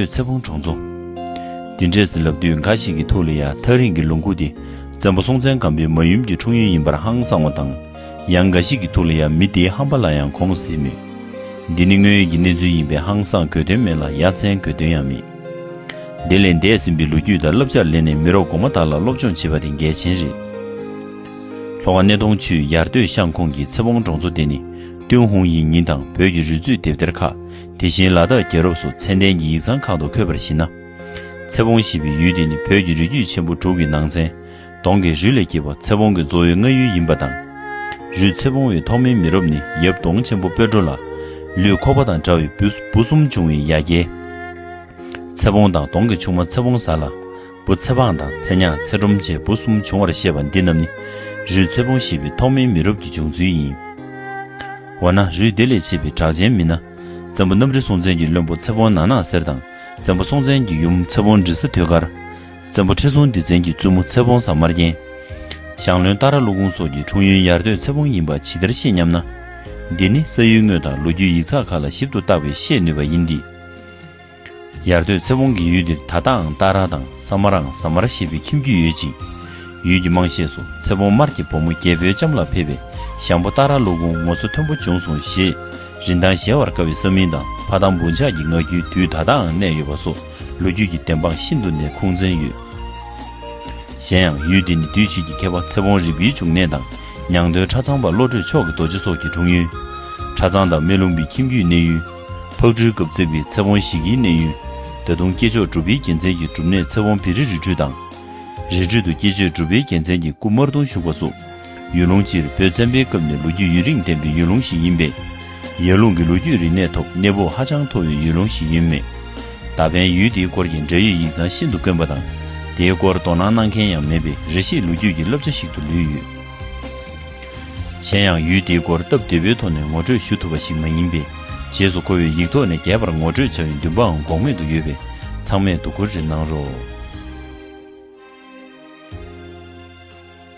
སྟོད་ཚེ་བོང་གྲོང་རྫོང། འདི་འདྲས་ཟིན་ལབ་དུས་འགའ་ཞིག་གི་ཐུགས་ལ་ཡང་ཐག་རིང་གི་ལུང་ཁུག་འདི་བཙན་པོ་སྲོང་བཙན་སྒམ་པོའི་མ་ཡུམ་གྱི་འཁྲུངས་ཡུལ་ཡིན་པར་ཧང་སང་བ་དང། ཡང་འགའ་ཞིག་གི་ཐུགས་ལ་ཡང་མི་དེའི་ཧམ་པ་ལ་ཡང་གོང་ཟིན་མོད། འདི་ནི་དངོས་ཡོད་ཀྱི་གནས་ཚུལ་ཡིན་པས་ཧང་སང་དགོས་དོན་མེད་ལ་ཡ་མཚན་དགོས་དོན་ཡང་མེད། དེ་ལས་འདས་ཟིན་པའི་ལོ་རྒྱུས་དང་བསླབ་བྱར་ལེན་ནས་མི་རོ་གོང་མ་དག་ལ་སློབ་སྦྱོང་བྱེད་པ་དེ་འགལ་ཆེན་རེད། ལྷོ་ཁ་སྣེ་གདོང་ཆུས་ཡར་སྟོད་ཤང་ཁོངས་ཀྱི་ཚེ་བོང་གྲོང་ཚོ་དེ་ནི་ཏུན་ཧུང་ཡིག་རྙིང་དང་བོད་ཀྱི་རུས་མཛོད་དེབ་ཐེར་ཁག་དེ་བཞིན་ལ་དྭགས་རྒྱལ་རབས་སུ་ཚན་ལྡན་གྱི་ཡིག་ཚང་ཁག་ཏུ་འཁོད་པར་གཞིགས་ན། ཚེ་བོང་ཞེས་པའི་ཡུལ་དེ་ནི་བོད་ཀྱི་རི་རྒྱུད་ཆེན་པོ་དྲུག་གི་ནང་ཚན་གདོང་གི་རུས་ལས་སྐྱེས་པ་ཚེ་བོང་གི་གཙོ་བོའི་རྔ་ཡུལ་ཡིན་པ་དང། རུས་ཚེ་བོང་བའི་ཐོག་མའི་མི་རབས་ནི་ཡབ་གདོང་ཆེན་པོ་སྤོས་གྲོ་ལ། ལུས་ཁོག་པ་དང་འདྲ་བའི་བུ་གསུམ་བྱུང་བའི་ཡ་གྱལ། ཚེ་བོང་དང་གདོང་གི་ཆུང་མ་ཚེ་བོང་ཟ་ལ། བུ་ཚེ་དཔང་དང་ཚེ་ཉག་ཚེ་སྒྲོམ་བཅས་བུ་གསུམ་བྱུང་བར་བཤད་པ་འདི་རྣམས་ནི་རུས་ཚོད་སྤོང་ཤེས་པའི་ཐོག་མའི་མི་རབས་ཀྱི་བྱུང་ཚུལ་ཡིན། འོ་ན་རུས་དེ་ལས་མཆེད་པའི་གྲགས་ཅན་མི་སྣ། བཙན་པོ་གནམ་རི་སྲོང་བཙན་གྱི་བློན་པོ་ཚེ་དཔོན་ནག་ནག་སེར་དང་བཙན་པོ་སྲོང་བཙན་གྱི་ཡུམ་ཚེ་དཔོན་འབྲི་ས་ཐོད་དཀར། བཙན་པོ་ཁྲི་སྲོང་ལྡེ་བཙན་གྱི་བཙུན་མོ་ཚེ་དཔོན་ས་དམར་རྒྱན། ཞང་བློན་སྟག་ར་ཀླུ་གུང་སོགས་ཀྱི་འཁྲུངས་ཡུལ་ཡར་སྟོད་ཚེ་དཔོན་ཡིན་པ་ཇི་ལྟར་ཤེས་སྙམ་ན། འདི་ནི་ས་ཡུལ་དངོས་དང་ལོ་རྒྱུས་ཡིག་ཚགས་ཁག་ལ་ཞིབ་ཏུ་བརྟགས་པས་ཤེས་ནུས་པ་ཡིན་ཏེ། ཡར་སྟོད་ཚེ་བོང་གི་ཡུལ་འདིར་ད་ལྟའང་སྟག་ར་དང་ས་མ་རང་ཟ་མར་ཞེས་པའི་ཁྱིམ་རྒྱུད་ཡོད་ཅིང། ཡུལ་གྱི་དམངས་གཞས་སུ་ཚེ་བོང་དམར་གྱི་བུ་མོ་རྒྱལ་པོའི་ལྕམ་ལ་ཕེབས་པས་ཞང་པོ་སྟག་ར་ཀླུ་གུང་ངོ་སོ་མཐོན་པོ་བྱུང་སོང་ཞེས་རིན་ཐང་གཞལ་བར་དཀའ་བའི་ས་མིང་དང་ཕ་དམ་བུ་འཇགས་ཀྱི་ངག་རྒྱུན་དུས་ད་ལྟའང་གནས་ཡོད་པ་སོགས་ལོ་རྒྱུས་ཀྱི་བདེན་དཔང་ཤིན་ཏུ་ནས་ཁུངས་བཙན་ཡོད། གཞན་ཡང་ཡུལ་འདི་ནི་དུས་ཕྱིས་ཀྱི་མཁས་པ་ཚེ་བོང་རིག་པའི་འབྱུང་གནས་དང་ཉང་སྟོད་གྲྭ་ཚང་པ་བློ་གྲོས་མཆོག་གི་རྡོ་རྗེ་སོགས་ཀྱི་འཁྲུངས་ཡུལ། གྲྭ་ཚང་དང་སྨན་ལུང་པའི་ཁྱིམ་རྒྱུད་གནས་ཡུལ། ཕག་གྲུའི་སྐབས་བརྩེགས་པའི་ཚེ་བོང་ཞིག་གི་གནས་ཡུལ། ད་དུང་སྐྱེས་མཆོག་གྲུབ་པའི་རྒྱལ་མཚན་གྱི་སྒྲུབ་གནས་ཚེ་བོང་བེ་རི་རི་ཁྲུས་དང། རི་ཁྲུས་དུ་སྐྱེས་མཆོད་གྲུབ་པའི་རྒྱལ་མཚན་གྱི་སྐུ་དམར་གདུང་བཞུགས་པ་སོགས། ཡུལ་ལུང་སྤྱིར་བོད་བཙན་པོའི་སྐབས་ནས་ལོ་རྒྱུས་ཡུན་རིང་ལྡན་པའི་ཡུལ་ལུང་ཞིག་ཡིན་པས། ཡར་ཀླུང་གི་ལོ་རྒྱུས་རིག་གནས་ཐོག་གནས་བབ་ཧ་ཅང་མཐོ་བའི་ཡུལ་ལུང་ཞིག་ཡིན་མོད། ད་ཕན་ཡུལ་དེའི་སྐོར་གྱི་འབྲེལ་ཡོད་ཡིག་ཚང་ཤིན་ཏུ་དཀོན་པ་དང། དེའི་སྐོར་དོ་སྣང་གནང་མཁན་ཡང་མེད་པས་རེ་ཞིག་ལོ་རྒྱུས་ཀྱི་བསླབ་བྱ་ཞིག་ཏུ་ལུས་ཡོད། གཞན་ཡང་ཡུལ་དེའི་སྐོར་སྟབས་བདེ་བོའི་ཐོག་ནས་ངོ་སྤྲོད་ཞུ་ཐུབ་པ་ཞིག་མ་ཡིན་པས། རྗེས་སུ་ཁོ་བོས་ཡིག་ཐོག་ནས་རྒྱས་པར་ངོ་སྤྲོད་བྱ་བའི་འདུན་པའང་འགོག་མེད་དུ་ཡོད་པས་ཚང་མས་དོ་ཁུར་རེ་གནང་རོགས།